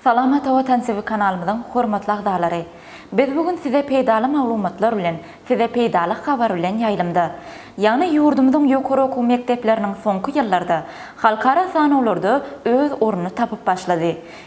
Salam Ata Watan TV kanalymyzyň hormatly agzalary. Biz bu gün size peýdaly maglumatlar bilen, size peýdaly habar bilen ýaýlymda. Ýagny ýurdumyzyň ýokary okuw mekdepleriniň soňky ýyllarda halkara sanawlarda öz ornuny tapyp başlady.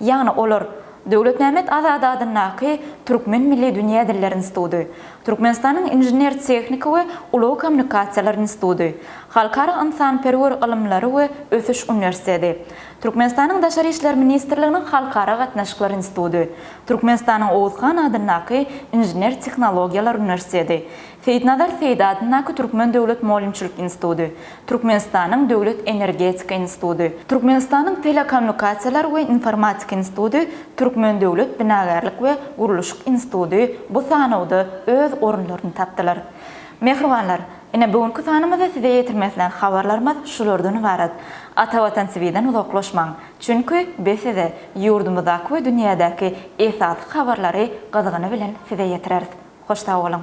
Ýagny olar, Döwletmämmet Azady adyndaky Türkmen milli dünýä diller institudy, Türkmenistanyň Inžener-tehniki we ulag kommunikasiýalar institudy, Halkara ynsanperwer ylymlary we ösüş uniwersiteti, Türkmenistanyň Daşary işler ministrliginiň Halkara gatnaşyklar institudy, Türkmenistanyň Oguz han adyndaky Inžener-tehnologiýalar uniwersiteti, Seýitnazar Seýit adyndaky Türkmen döwlet mugallymçylyk instituty, Türkmenistanyň Döwlet energetika instituty, Türkmenistanyň Telekommunikasiýalar we informatika instituty, Türkmen döwlet binagärlik we gurluşyk instituty bu sanawda öz orunlaryny tapdylar. Mähribanlar, ine bu günki sanymyzda size ýetirmek islän habarlarymyz şulardan ybarat. Ata Watan TV-den uzaklaşmaň, çünki biz size ýurdumyzdaky we dünýädäki esasy habarlary gyzgyny bilen size ýetireris. Hoş sag boluň.